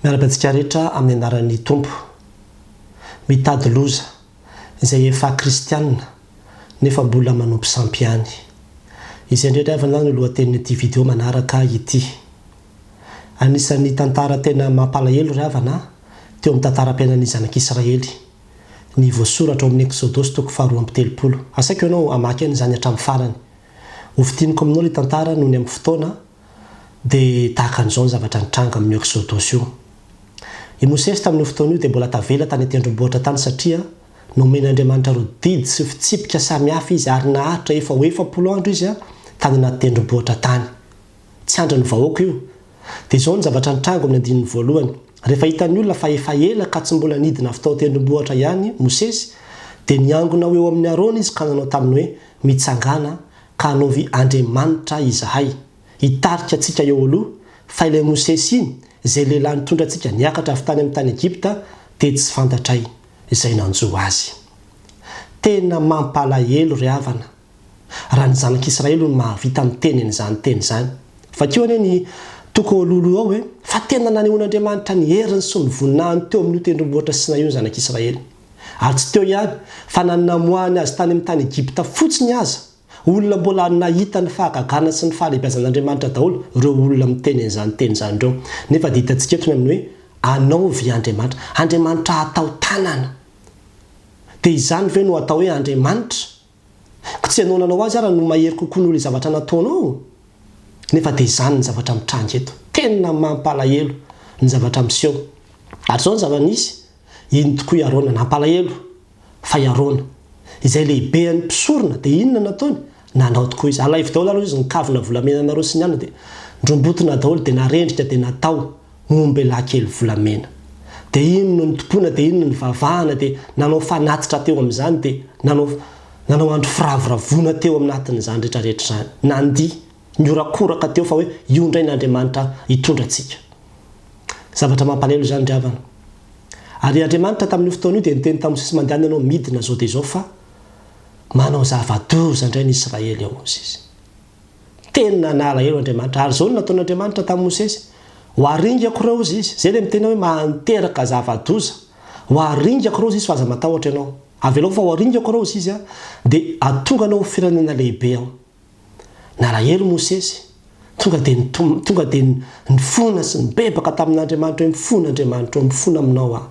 Miaraka antsika rehetra amin'ny anaran'ny Tompo. Mitady loza izay efa kristiana nefa mbola manompo sampy ihany. Izay indray ry havana no lohatenin'ity video manaraka ity. Anisan'ny tantara tena mampalahelo ry havana teo amin'ny tantaram-piainan'ny zanak'Israely ny voasoratra ao amin'ny Eksodosy toko faharoa amby telopolo. Asaiko ianao hamaky aina izany hatramin'ny farany. Hofintiniko aminao ilay tantara nony amin'ny fotoana dia tahaka an'izao ny zavatra nitranga amin'i Ëksôdôsy io. I Mosesy tamin'io fotoana io dia mbola tavela tany an-tendrombohitra tany satria nomen'Andriamanitra ireo didy sy fitsipika samy hafa izy ary naharitra efa ho efapolo andro izy tany anaty tendrombohitra tany. Tsy andrin'ny vahoaka io. Dia izao ny zavatra nitranga ao amin'ny andininy voalohany, Rehefa hitan'ny olona fa efa ela ka tsy mbola nidina avy tao an-tendrombohitra ihany Mosesy, dia niangona ho eo amin'i Arona izy ka nanao taminy hoe, Mitsangàna, ka hanaovy Andriamanitra izahay, hitarika antsika eo aloha, fa ilay Mosesy iny, izay lehilahy nitondra antsika niakatra avy tany amin'ny tany Egypta, dia tsy fantatray izay nanjo azy. Tena mampalahelo ry havana, raha ny zanak' Israely no mahavita miteny an'izany teny izany. Vakio anie ny toko ao alohaloha ao e! Fa tena nanehoan'Andriamanitra ny heriny sy ny voninahiny teo amin'io tendrombohitra Sinay io ny zanak' Israely. Ary tsy teo ihany, fa na ny namoahany azy tany amin'ny tany Egypta fotsiny aza, olona mbola nahita ny fahagagana sy ny fahalebiazan'Andriamanitra daholo ireo olona miteny an'izany teny izany ireo. Nefa dia hitantsika eto ny amin'ny hoe anaovy Andriamanitra. Andriamanitra hatao tanana. Dia izany ve no atao hoe Andriamanitra? Ka tsy ianao nanao azy ara no mahery kokoa noho le zavatra nataonao? Nefa dia izany ny zavatra mitranga eto. Tena mampalahelo ny zavatra miseho. Ary izao ny zava-nisy, iny tokoa i Arona nampalahelo, fa i Arona, izay lehibean'ny mpisorona, dia inona no nataony? Nanao tokoa izy. Alaivo daholo ary hoy izy, ny kavina volamenanareo sy ny anona dia ndrombotona daholo, dia narendrika dia natao. Nombe lahy kely volamena. Dia iny no nitompoana dia iny no nivavahana dia nanao fanatitra teo amin'izany dia nanao nanao andro firavoravoana teo aminatin'izany rehetra rehetra izany. Nandihy, nihorakoraka teo fa hoe io indray ny Andriamanitra hitondra antsika. Zavatra mampalahelo izany ry havana. Ary Andriamanitra tamin'io fotoana io dia niteny tamin'i Mosesy mandehana ianao midina izao dia izao fa manao zava-doza indray ny Israely ao hozy izy. Teny nanala eo Andriamanitra. Ary izao no nataon'Andriamanitra tamin'i Mosesy, Ho aringako ireo, hozy Izy. Izay ilay miteny hoe mahanteraka zava-doza. Ho aringako ireo, hozy Izy, fa aza matahotra ianao. Avelao fa ho aringako ireo, hozy Izy, dia hatonga anao ho firenena lehibe Aho. Nalahelo Mosesy. Tonga dia nitom-, tonga dia nifona sy nibebaka tamin'Andriamanitra hoe, Mifona Andriamanitra ô, mifona aminao Aho.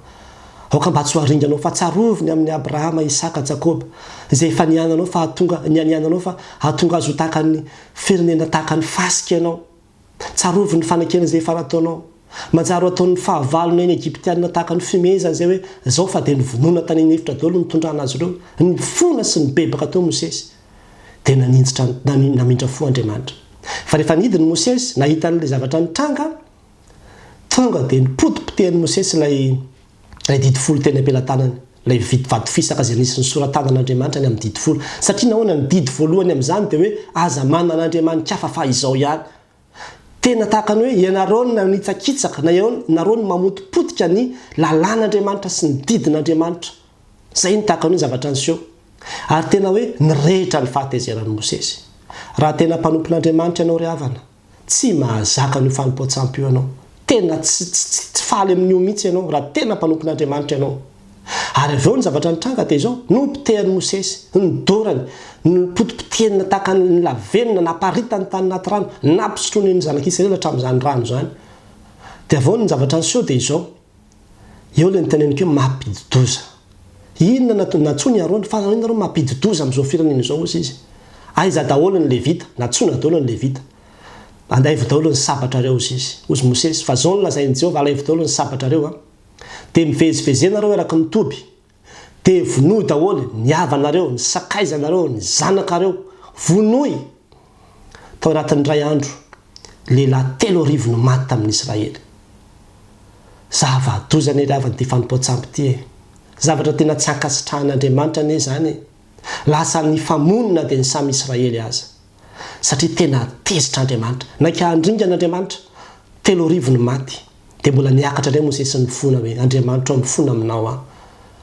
Aoka mba tsy ho haringanao fa tsarovy ny amin'i Abrahama, Isaka, Jakoba, izay efa niananao fa hahatonga, nianiananao fa hahatonga azy ho tahaka ny firenena tahaka ny fasika ianao. Tsarovy ny fanekena izay efa nataonao. Manjary ho ataon'ny fahavalona eny Egyptiana tahaka ny fihomehezana izay hoe, Zao fa dia novonoina tany an'efitra daholo ny nitondrana azy ireo. Nifona sy nibebaka teo Mosesy. Dia naninjitra, namindra fo Andriamanitra. Fa rehefa nidiny Mosesy, nahita an'ilay zavatra nitranga, Tonga dia nipotipotehan'i Mosesy ilay ilay Didy Folo teny am-pelatanany, ilay vit- vato fisaka izay nisy ny sora-tanan'Andriamanitra ny amin'ny Didy Folo. Satria nahoana? Ny didy voalohany amin'izany dia hoe, Aza manana andriamani-kafa fa izao ihany. Tena tahaka ny hoe ianareo no nanitsakitsaka, na ianao nareo no mamotipotika ny lalàn'Andriamanitra sy ny didin'Andriamanitra. Izay no tahaka ny hoe zavatra niseho. Ary tena hoe nirehitra ny fahatezeran'i Mosesy. Raha tena mpanompon'Andriamanitra ianao ry havana, Tsy mahazaka an'io fanompoan-tsampy io ianao. Tena tsy, tsy, tsy, tsy faly amin'io mihitsy ianao, raha tena mpanompon'Andriamanitra ianao. Ary avy eo ny zavatra nitranga dia izao, nopotehan'i Mosesy ny dorany, nopotipotehina tahaka ny, ny lavenona, naparitany tany anaty rano, nampisotroiny ny Zanak'Isiraely hatramin'izany rano izany. Dia avy eo ny zavatra niseho dia izao. Eo ilay niteneniko hoe mampidi-doza. Inona no nantsoiny Arona? Fa inona rô mampidi-doza amin'izao firenena izao, hozy izy. Aiza daholo ny Levita? Nantsoina daholo ny Levita. Alaivo daholo ny sabatrareo, hozy izy. Hozy Mosesy, Fa izao no lazain'i Jehovah, Alaivo daholo ny sabatrareo, dia mivezivezena reo eraky ny toby, Dia vonoy daholo ny havanareo, ny sakaizanareo, ny zanakareo. Vonoy! Tao anatin'ny iray andro, lehilahy telo arivo no maty tamin'ny Israely. Zava-doza anie ry havana ity fanompoan-tsampy ity e! Zavatra tena tsy ankasitrahan'Andriamanitra anie izany e! Lasa nifamonina dia ny samy Israely aza. satria tena tezitra Andriamanitra. Naika handringana Andriamanitra. Telo arivo ny maty. Dia mbola niakatra indray Mosesy nifona hoe, Andriamanitro a, mifona aminao aho.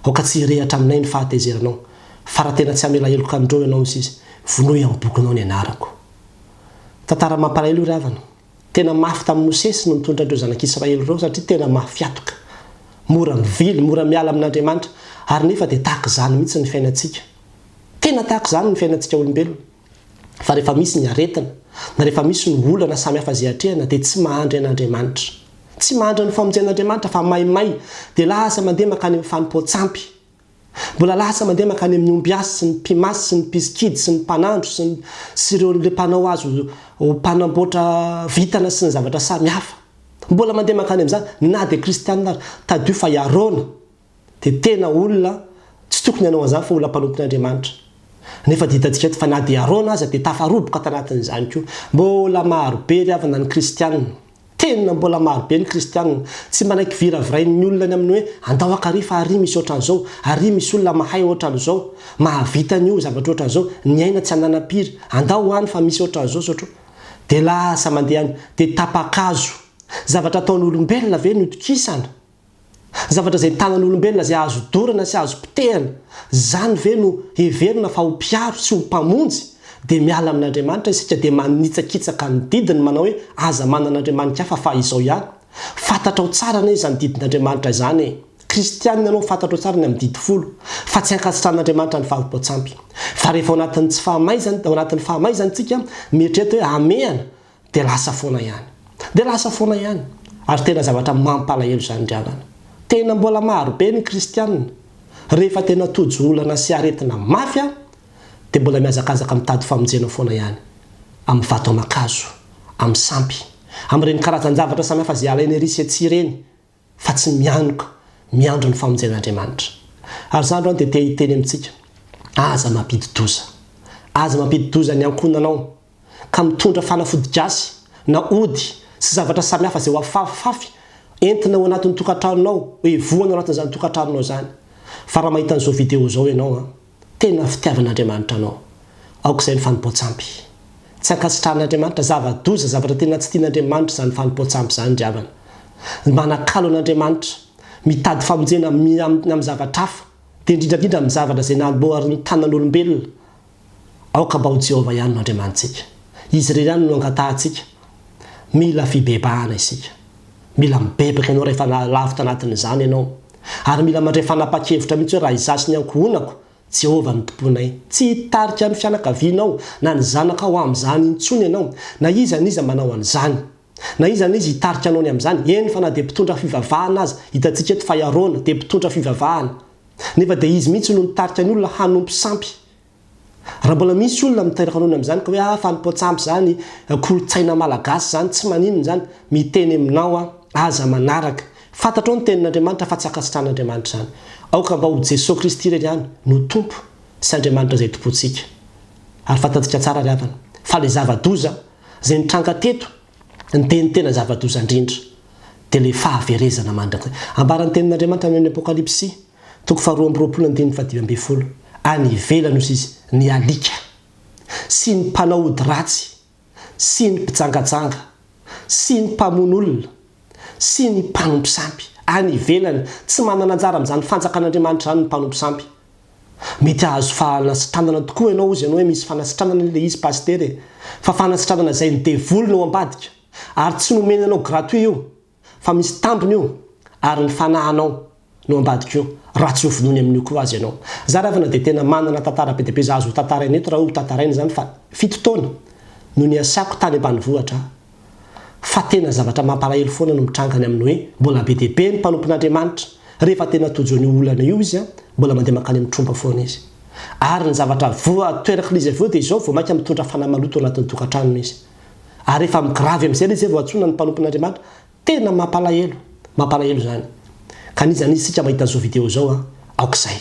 Aoka tsy hirehatra aminay ny fahatezeranao. Fa raha tena tsy hamela heloka an'ireo ianao misy izy, vonoy amin'ny bokinao ny anarako. Tantara mampalahelo io ry havana. Tena mafy tamin'i Mosesy no nitondra an'ireo zanak'Israely ireo satria tena mafy atoka. Mora mivily, mora miala amin'Andriamanitra. Ary nefa dia tahaka izany mihitsy ny fiainantsika. Tena tahaka izany ny fiainantsika olombelona. Fa rehefa misy ny aretina, na rehefa misy ny olana samy hafa izay atrehina, dia tsy mahandry an'Andriamanitra. Tsy mahandry ny famonjen'Andriamanitra, fa maimay dia lasa mandeha mankany amin'ny fanompoan-tsampy. Mbola lasa mandeha mankany amin'ny ombiasy sy ny mpimasy sy ny mpisikidy sy ny mpanandro sy ny sy ireo ilay mpanao azy ho mpanamboatra vintana sy ny zavatra samy hafa. Mbola mandeha mankany amin'izany, na dia kristianina ary. Tadidio fa i Arona, dia tena olona tsy tokony hanao an'izany fa olona mpanompon'Andriamanitra. Nefa dia hitantsika eto fa na dia Arona aza dia tafaroboka tanatin'izany koa. Mbola marobe ry havana ny kristiana. Tena mbola marobe ny kristiana. Tsy mba naiky viravirain'ny olona ny amin'ny hoe andao ankary fa àry misy ohatran'izao, àry misy olona mahay ohatran'izao, mahavita an'io, zavatra ohatran'izao, ny aina tsy ananam-piry, andao any fa misy ohatran'izao satro. Dia lasa mandeha any, dia tapa-kazo. Zavatra ataon'olombelona ve no itokisana? Zavatra izay tanan'olombelona izay azo dorana sy azo potehana, izany ve no heverina fa ho mpiaro sy ho mpamonjy? Dia miala amin'Andriamanitra isika dia manitsakitsaka ny didiny manao hoe aza manana andriamaniky hafa fa izao ihany. Fantatrao tsara anie izany didin'Andriamanitra izany e! Kristianina ianao fantatrao tsara ny amin'ny didy folo fa tsy ankasitrahan'Andriamanitra ny fahavimpao-tsampy. Fa rehefa ao anatin'ny tsy fahamaizana, ao anatin'ny fahamaizana isika, mieritrereta hoe hamehana dia lasa foana ihany. Dia lasa foana ihany. Ary tena zavatra mampalahelo izany ry havana. Tena mbola maro be ny kristiana, rehefa tena tojo olana sy aretina mafy an, dia mbola mihazakazaka mitady famonjena foana ihany, amin'ny vato aman-kazo, amin'ny sampy, amin'ireny karazan-javatra samihafa izay alainy ery sy etsy ireny, fa tsy mianoka miandry ny famonjen'Andriamanitra. Ary za androany dia te hiteny amintsika, aza mampidi-doza. Aza mampidi-doza ny ankohonanao, ka mitondra fanafody gasy, na ody, sy zavatra samihafa izay ho afafafy entina ao anatin'ny tokantranonao, hoe voany ao anatin'izany tokantranonao izany. Fa raha mahita an'izao vidéo izao ianao an! Tena fitiavan'Andriamanitra anao. Aoka izay ny fanompoan-tsampy. Tsy ankasitrahan'Andriamanitra. Zava-doza, zavatra tena tsy tian'Andriamanitra izany fanompoan-tsampy izany, ry havana. Manakalo an'Andriamanitra. Mitady famonjena amin'ny amin'ny zavatra hafa, dia indrindra indrindra amin'ny zavatra izay namboarin'ny tanan'olombelona. Aoka mba ho Jehovah ihany no andriamanitsika. Izy irery ihany no angatahantsika. Mila fibebahana isika. Mila mibebaka ianao rehefa lavo tanatin'izany ianao. Ary mila mandray fanapahan-kevitra mihitsy hoe raha izaho sy ny ankohonako, Jehovah no tomponay. Tsy hitarika ny fianakavianao na ny zanakao amin'izany intsony ianao, na iza n'iza manao an'izany. Na iza na iza hitarika anao ny amin'izany, eny fa na dia mpitondra fivavahana aza, hitantsika eto fa i Arona dia mpitondra fivavahana, nefa dia izy mihitsy no nitarika ny olona hanompo sampy. Raha mbola misy olona miteraka noana amin'izany ka hoe ah fanompoan-tsampy izany, kolontsaina malagasy izany, tsy maninona izany, miteny aminao aho, aza manaraka. Fantatrao ny tenin'Andriamanitra fa tsy ankasitrahan'Andriamanitra izany. Aoka mba ho Jesoa Kristy irery ihany no Tompo sy Andriamanitra izay itompoantsika. Ary fantantsika tsara ry havana fa ilay zava-doza izay nitranga teto dia ny tena zava-doza indrindra dia ilay fahaverezana mandrakizay. Ambaran'ny tenin'Andriamanitra any amin'ny Apokalypsy. Toko faharoa amby roapolo andininy fahadimy ambin'ny folo, Any ivelany osa izy, ny alika, sy ny mpanao ody ratsy, sy ny mpijangajanga, sy ny mpamono olona, sy ny mpanompo sampy, any ivelany, tsy manana anjara amin'izany fanjakan'Andriamanitra izany ny mpanompo sampy. Mety hahazo fanasitranana tokoa ianao, hozy ianao hoe misy fanasitranana ilay izy Pasitera e! Fa fanasitranana izay ny devoly no ambadika, ary tsy nomena anao gratuit io, Fa misy tambiny io ary ny fanahanao no ambadik'io raha tsy ho vonoiny amin'io koa aza ianao. Za ravana dia tena manana tantara be dia be za azo ho tantaraina eto raha hoe ho tantaraina izany fa fito taona no niasako tany ambanivohitra fa tena zavatra mampalahelo foana no mitranga any amin'ny hoe mbola be dia be ny mpanompon'Andriamanitra rehefa tena tojo an'io olana io izy mbola mandeha mankany amin'ny tromba foana izy ary ny zavatra voa toerak'ilay izy avy eo dia izao vao maika mitondra fanahy maloto ao anatin'ny tokantranony izy. ary efa migrave amizay le zay vao antsoina ny mpanompon'Andriamanitra, tena mampalahelo, mampalahelo zany, ka n'iza n'iza isika mahita zao video zao an, aok'izay,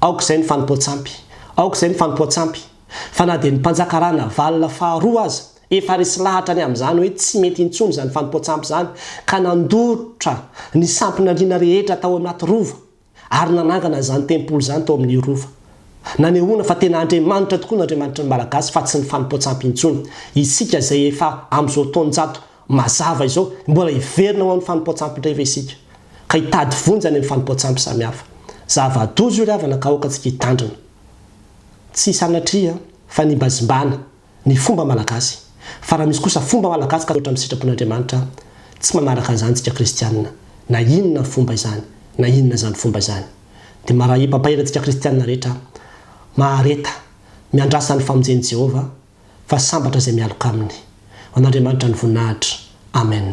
aok'izay ny fanompoan-tsampy, aok'izay ny fanompoan-tsampy, fa na dia ny mpanjaka Ranavalona faharoa aza efa resy lahatra ny amizany hoe tsy mety intsony zany fanompoan-tsampy zany, ka nandorotra ny sampin'Andriana rehetra tao anaty rova, ary nanangana izany tempoly izany tao amin'ny Rova. Nanehoana fa tena Andriamanitra tokoa ny Andriamanitry ny Malagasy fa tsy ny fanompoan-tsampy intsony. Isika izay efa amin'izao taon-jato mazava izao, mbola hiverina ho amin'ny fanompoan-tsampy indray ve isika? Ka hitady vonjy any amin'ny fanompoan-tsampy samihafa. Zava-doza io ry havana ka aoka antsika hitandrina. Tsy sanatria fa nimbazimbana. Ny fomba malagasy. Fa raha misy kosa fomba malagasy ka mihoatra amin'ny sitrapon'Andriamanitra, tsy manaraka an'izany isika kristianina, na inona fomba izany, na inona izany fomba izany. Dia marahi pampaela antsika kristianina rehetra, mahareta, miandrasa ny famonjen'i Jehovah, fa sambatra izay mialoka aminy. Ho an'Andriamanitra ny voninahitra. Amen.